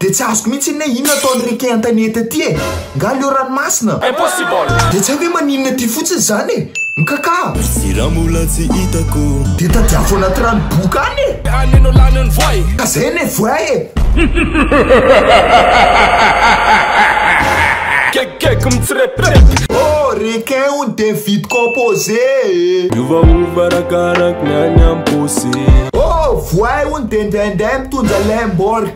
Dia tsy azoko mihitsy anie inona ataon'i Ricky Antanety aty e! Nga leo ranomasina? Impossible! Dia tsy hay hoe maninona aty fotsiny izany e! Mkakah! Sy raha mbola tsy hitako. Dia tadiavo anaty rano boka any e! Dia any no lany ny voay! Ka izay anie voay e! Gegegeg mitsirepirepy. Oh! Requin hono dia vide composé e! Miovaova arakaraky ny any am-paosy. Oh! Voay hono dia indraindray mitondra lemborg.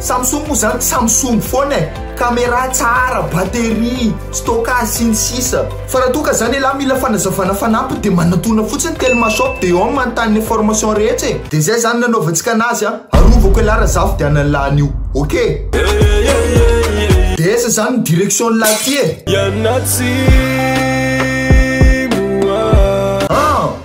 Samsung moa zany Samsung foana e, camera tsara, batterie, stockage sy ny sisa Fa raha toa ka zany ialahy mila fanazavana fanampiny de manatona fotsiny Telma shop de ao no manontany ny information rehetra e De zay zany nanaovantsika anazy a, arovako ialahy raha zaho vidiana ny lahy an'io ok. De aiza zany ny direction ny lahy ty e? An!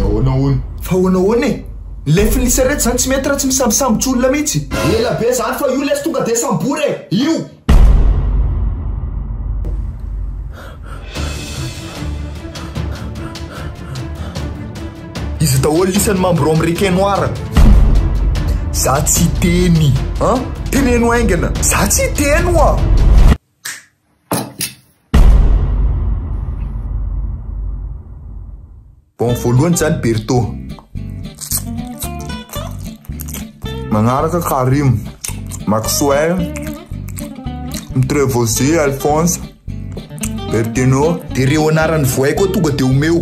Dia ahoana hono? Fa ahoana ahoana e? Ny lefin' ny sarety izany tsy mety raha tsy misambosambotry olona mihitsy. Ela be izany fa io lesy tonga dia sambory e! Io! Iza daholo isan' ny mambro ao amin' ny Requin Noir? Za tsy hiteny an! Teneno haingana! Za tsy hiteny oa! Bon voalohany zany Berto. Manaraka Karim, Maxwell, Mtrevosy, Alphonse, Bertino. Dia reo anaran'ny voay koa tonga dia omeo.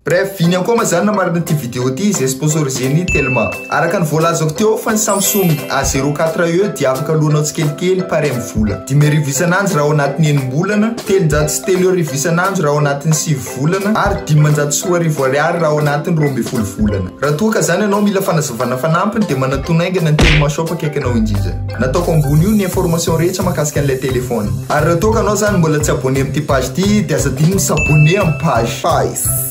Bref, viny akoma zany namarana ity vidéo ity izay sponsorisé ny Telma. Araka ny voalazako teo fa ny Samsung A zero quatre E dia afaka aloanao tsikelikely pare amin'ny vola dimy arivo isan'andro raha ao anatin'ny enim-bolana, telonjato sy telo arivo isan'andro raha ao anatin'ny sivy volana ary dimanjato sy roa arivo ariary raha ao anatin'ny roa ambin'ny folo volana. Raha toa ka zany ianao mila fanazavana fanampiny dia manatona haingana ny Telma shop akaiky anao indrindra. Nataoko ambony io ny information rehetra mahakasika an'ilay téléphone. Ary raha toa ka anao zany mbola tsy abonné amin'ity page ity dia aza adino ny s'abonner amin'ny page.